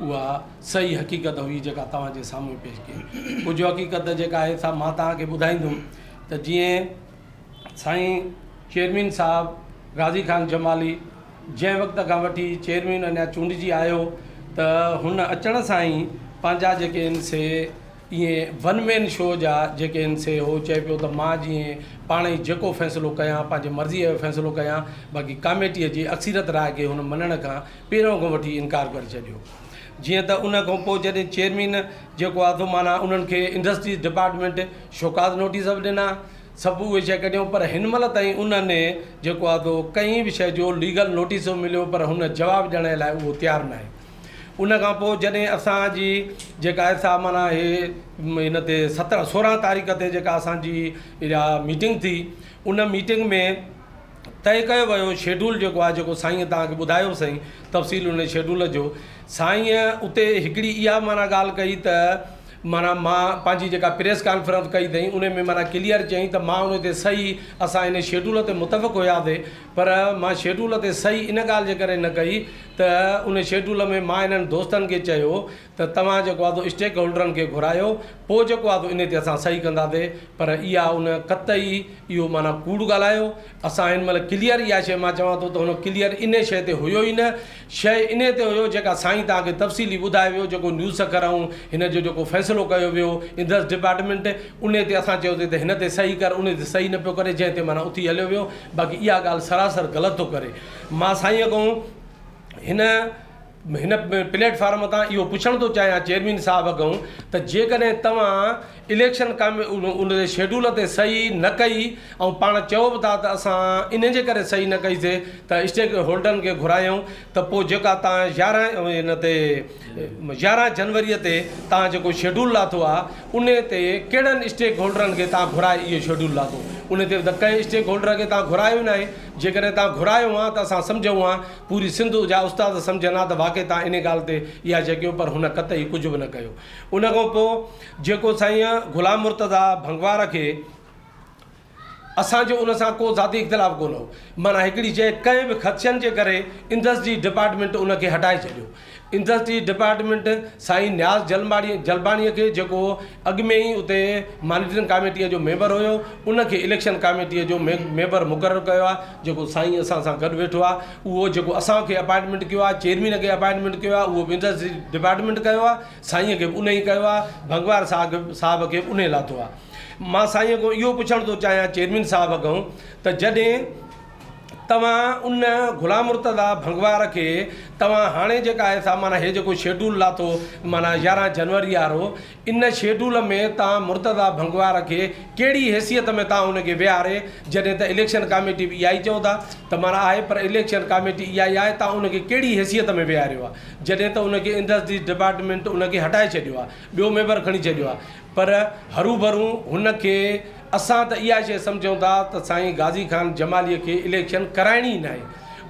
اها صحيح حقيقت هئي جيڪا توهان جي سامهون پيش ڪئي. ڪجهه حقيقت جيڪا آهي سا مان توهان کي ٻڌائيندم ته جيئن سائين چيئرمين صاحب غازي خان جمالي جنهن وقت کان وٺي چيئرمين اڃا چونڊجي آيو ته هن اچڻ سان ئي پنهنجا جيڪي آهن سي ايئن ون مين شو جا جيڪي آهن سي هو چئي پيو ته مان جيئن پاڻ ئي جيڪو فيصلو ڪيان پنهنجي مرضيء جو فيصلو ڪيان باقي ڪاميٽيء جي اڪثريت راء کي هن مڃڻ کان پهريون کان وٺي انڪار ڪري ڇڏيو جيئن ته ان کان پوء جڏهن چيئرمين جيڪو آ سو معنيٰ انهن کي انڊسٽريز ڊپارٽمينٽ شوڪاز نوٽيس به ڏنا سڀ اهي شيء ڪڍيون پر هن مهل تائين انهن جيڪو آ سو ڪنهن به شيء جو ليگل نوٽيس ٿو مليو پر هن جواب ڏيڻ جي لاء اهو تيار ناهي ان کان پوء جڏهن اسان جي جيڪا آهي سا معنيٰ هي هن تي سترهن سورهن تاريخ تي جيڪا اسان جي اها ميٽنگ ٿي ان ميٽنگ ۾ طئي ڪيو ويو شيڊول جيڪو آهي جيڪو سائينء توهان کي ٻڌايو سائين تفصيل ان شيڊول جو سائينء اتي هڪڙي اها معنيٰ ڳالهه ڪئي ته معنيٰ مان پنهنجي جيڪا پريس ڪانفرنس ڪئي اٿئي ان ۾ معنيٰ ڪليئر چئي ته مان ان تي صحيح اسان ان شيڊول تي متفق هياسي پر مان شيڊول تي صحيح ان ڳالهه جي ڪري نه ڪئي ته ان شيڊول ۾ مان انهن دوستن کي چيو ته توهان جيڪو آهي سو اسٽيڪ هولڊرن کي گهرايو پوء جيڪو آهي سو انهي تي اسان صحيح ڪنداسي پر اها ان قطعي اهو معنيٰ ڪوڙ ڳالهايو اسان هن مهل ڪليئر اها شئي مان چوان ٿو ته هن ڪليئر انهي شئي تي هيو ئي نه شئي انهي تي هيو جيڪا سائين توهان کي تفصيلي ٻڌائي ويو جيڪو نيوز سکر ائون هن جو جيڪو فيصلو ڪيو ويو اندرس ڊپارٽمينٽ انهي تي اسان چيوسي ته هن تي صحيح ڪر انهي تي صحيح نه پيو ڪري جنهن تي معنيٰ اٿي هليو ويو باقي اها ڳالهه سراسر غلط ٿو ڪري مان سائين اڳئون هن هن پليٽ فارم تان اهو پڇڻ ٿو چاهيان چيئرمين صاحب اڳئون ته جيڪڏهن توهان اليڪشن ان جي شيڊول تي صحيح نه ڪئي ۽ پاڻ چئو به ٿا ته اسان ان جي ڪري صحيح نه ڪئي سي ته اسٽيڪ هولڊرن کي گهرايائون ته پوء جيڪا توهان يارهن ان تي يارهن جنوري تي توهان جيڪو شيڊول لاٿو آهي ان تي ڪهڙن اسٽيڪ هولڊرن کي توهان گهرائي اهو شيڊول لاٿو ان تي ته ڪنهن اسٽيڪ هولڊر کي توهان گهرايو ئي ناهي جيڪڏهن توهان گهرايو ها ته اسان سمجهون ها پوري سنڌ جا استاد سمجهن ها ته واقعي تان انهي ڳالهه تي اها شي ڪيو پر هن قطعي ڪجهه به نه ڪيو ان کان پو جيڪو سائين غلام مرتضيٰ ڀنگوار کي اسان جو ان سان ڪو ذاتي اختلاف ڪونه هو معنيٰ هڪڙي شي ڪنهن به خدشن جي ڪري اندس جي ڊپارٽمينٽ ان کي هٽائي ڇڏيو انڊسٽريز ڊپارٽمينٽ سائين نياز جلباڻي کي جيڪو اڳ ۾ ئي اتي مانيٽرنگ ڪاميٽيء جو ميمبر هيو ان کي اليڪشن ڪاميٽيء جو ميمبر مقرر ڪيو آهي جيڪو سائين اسان سان گڏ ويٺو آهي اهو جيڪو اسان کي اپائنٽمينٽ ڪيو آهي چيئرمين کي اپائنٽمينٽ ڪيو آهي اهو به انڊسٽريز ڊپارٽمينٽ ڪيو آهي سائينء کي به ان ئي ڪيو آهي ڀنگوار صاحب صاحب کي ان ئي لاٿو آهي مان سائينء کان اهو پڇڻ ٿو چاهيان چيئرمين صاحب کان ته جڏهن توهان ان غلام مرتضيٰ ڀنگوار کي توهان هاڻي جيڪا هي سا معنيٰ هي جيڪو شيڊول لاٿو معنيٰ يارهن جنوري وارو ان شيڊول ۾ توهان مرتضيٰ ڀنگوار کي ڪهڙي حيثيت ۾ توهان ان کي ويهاري جڏهن ته اليڪشن ڪاميٽي به اها ئي چئو ٿا ته معنيٰ آهي پر اليڪشن ڪاميٽي اها ئي آهي توهان ان کي ڪهڙي حيثيت ۾ ويهاريو آهي جڏهن ته ان کي انڊسٽريز ڊپارٽمينٽ ان کي هٽائي ڇڏيو آهي ٻيو ميمبر کڻي ڇڏيو آهي پر هروڀرو هن کي اسان ته اها شيء سمجهون ٿا ته سائين غازي خان جماليء کي اليڪشن ڪرائڻي ئي ناهي.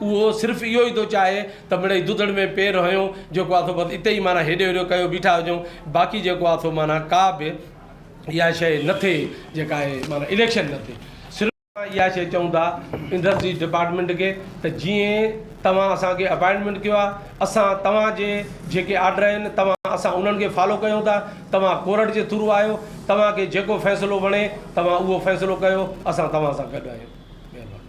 اهو صرف اهو ئي ٿو چاهي ته مڙئي دودڙ ۾ پير هنيو جيڪو آ سو بس اتي ئي معنيٰ هيڏو هيڏو ڪيو بيٺا هجون باقي جيڪو آ سو معنيٰ ڪا به اها شيء نه ٿئي جيڪا آهي معنيٰ اليڪشن نه ٿئي. صرف اسان اها شيء چئون ٿا انڊسٽريز ڊپارٽمينٽ کي ته جيئن توهان اسان کي اپائنٽمينٽ ڪيو آ اسان توهان جي جيڪي آرڊر آهن توهان اسان انهن کي فالو ڪيون ٿا توهان ڪورٽ جي ٿرو آهيو، توهان کي جيڪو فيصلو وڻي توهان اهو فيصلو ڪيو، اسان توهان سان گڏ آهيون. مهرباني.